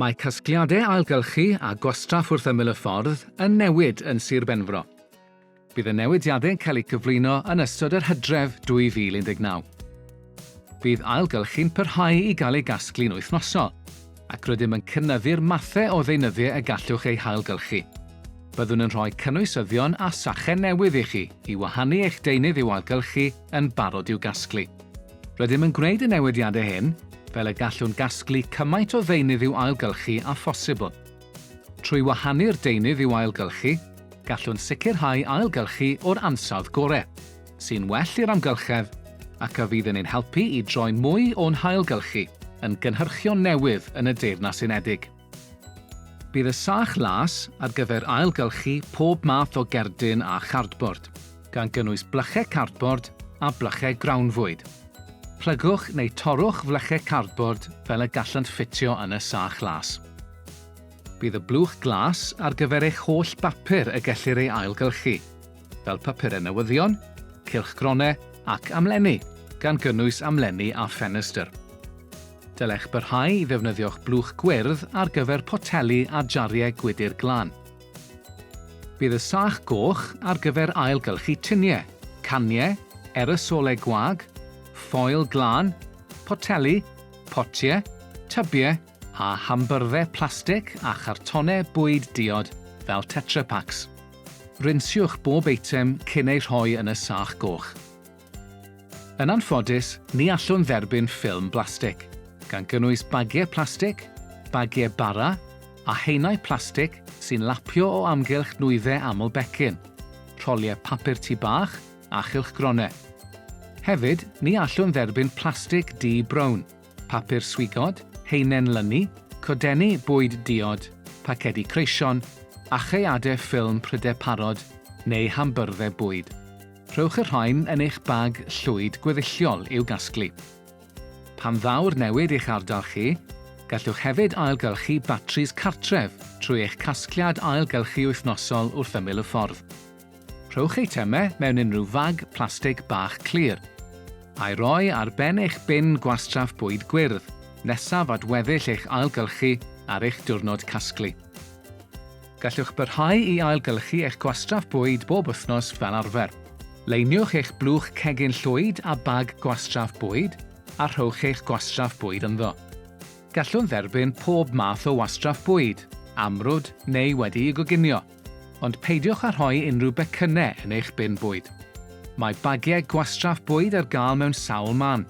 Mae casgliadau ailgylchu a gwastraff wrth ymyl y ffordd yn newid yn Sir Benfro. Bydd y newidiadau'n cael eu cyflwyno yn ystod yr hydref 2019. Bydd ailgylchu'n parhau i gael ei gasglu'n wythnosol, ac rydym yn cynyddu'r mathau o ddeunyddiau y gallwch eu hailgylchu. Byddwn yn rhoi cynwysyddion a sachau newydd i chi i wahanu eich deunydd i'w ailgylchu yn barod i'w gasglu. Rydym yn gwneud y newidiadau hyn fel y gallwn gasglu cymaint o ddeunydd i'w ailgylchu â phosibl. Trwy wahanu'r deunydd i'w ailgylchu, gallwn sicrhau ailgylchu o'r ansawdd gorau, sy'n well i'r amgylchedd ac a fydd yn ein helpu i droi mwy o'n hailgylchu yn gynhyrchion newydd yn y Deyrnas Unedig. Bydd y sach las ar gyfer ailgylchu pob math o gerdyn a chardbord, gan gynnwys blychau cardbord a blychau grawnfwyd. Plygwch neu torrwch flychau cardbord fel y gallant ffitio yn y sach las. Bydd y blwch glas ar gyfer eich holl bapur y gellir ei ailgylchu, fel papurau newyddion, cylchgronau ac amlenni, gan gynnwys amlenni a ffenestr. Dylech barhau i ddefnyddio'ch blwch gwyrdd ar gyfer poteli a jariau gwydr glan. Bydd y sach goch ar gyfer ailgylchu tuniau, caniau, erysolau gwag, ffoil glân, poteli, potiau, tybiau a hambyrddau plastig a chartonau bwyd diod fel Tetra Paks. Rinsiwch bob eitem cyn eu rhoi yn y sach goch. Yn anffodus, ni allwn dderbyn ffilm blastig, gan gynnwys bagiau plastig, bagiau bara, a haenau plastig sy'n lapio o amgylch nwyddau aml becyn, rholiau papur tŷ bach a chylchgronau. Hefyd, ni allwn dderbyn plastig du brown, papur swigod, haenen lynu, codenni bwyd diod, pacedi creision, achaeadau ffilm prydau parod neu hambyrddau bwyd. Rhowch y rhain yn eich bag llwyd gweddilliol i'w gasglu. Pan ddaw'r newid i'ch ardal chi, gallwch hefyd ailgylchu batris cartref trwy eich casgliad ailgylchu wythnosol wrth ymyl y ffordd. Rhowch eitemau mewn unrhyw fag plastig bach clir, a'i roi ar ben eich bin gwastraff bwyd gwyrdd nesaf at weddill eich ailgylchu ar eich diwrnod casglu. Gallwch barhau i ailgylchu eich gwastraff bwyd bob wythnos fel arfer. Leiniwch eich blwch cegin llwyd â bag gwastraff bwyd a rhowch eich gwastraff bwyd ynddo. Gallwn dderbyn pob math o wastraff bwyd, amrwd neu wedi'i goginio. Ond peidiwch â rhoi unrhyw becynnau yn eich bin bwyd. Mae bagiau gwastraff bwyd ar gael mewn sawl man,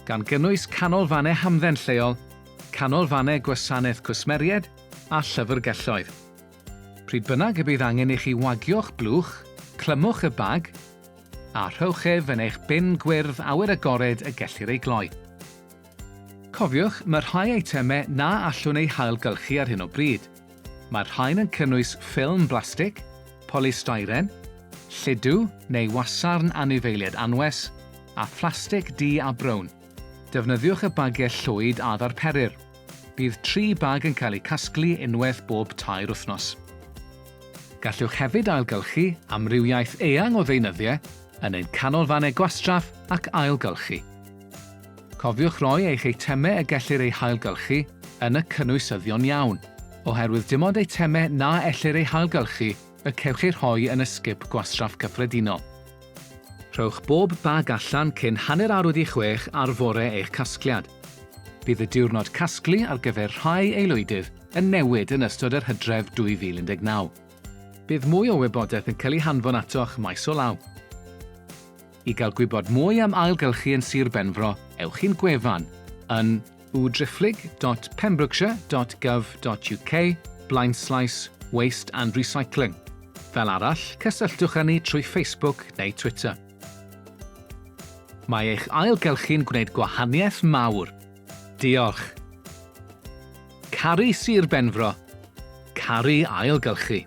gan gynnwys canolfannau hamdden lleol, canolfannau gwasanaeth cwsmeriaid a llyfrgelloedd. Pryd bynnag y bydd angen i chi wagio'ch blwch, clymwch y bag a rhowch ef yn eich bin gwyrdd awyr agored y gellir ei gloi. Cofiwch, mae rhai eitemau na allwn eu hailgylchu ar hyn o bryd, Mae'r rhain yn cynnwys ffilm blastig, polystyren, lludw neu wasarn anifeiliaid anwes, a phlastig du a brown. Defnyddiwch y bagiau llwyd a ddarperir. Bydd tri bag yn cael eu casglu unwaith bob tair wythnos. Gallwch hefyd ailgylchu amrywiaeth eang o ddeunyddiau yn ein canolfannau gwastraff ac ailgylchu. Cofiwch roi eich eitemau y gellir eu hailgylchu yn y cynwysyddion iawn, oherwydd dim ond eitemau na ellir eu hailgylchu y cewch eu rhoi yn y sgip gwastraff cyffredinol. Rhowch bob bag allan cyn hanner awr wedi chwech ar fore eich casgliad. Bydd y diwrnod casglu ar gyfer rhai aelwydydd yn newid yn ystod yr hydref 2019. Bydd mwy o wybodaeth yn cael ei hanfon atoch maes o law. I gael gwybod mwy am ailgylchu yn Sir Benfro, ewch i'n gwefan yn www.drifflig.pembrokeshire.gov.uk blaenslaes waste and recycling. Fel arall, cysylltwch â ni trwy Facebook neu Twitter. Mae eich ailgylchu'n gwneud gwahaniaeth mawr. Diolch! Caru Sir Benfro. Caru ailgylchu.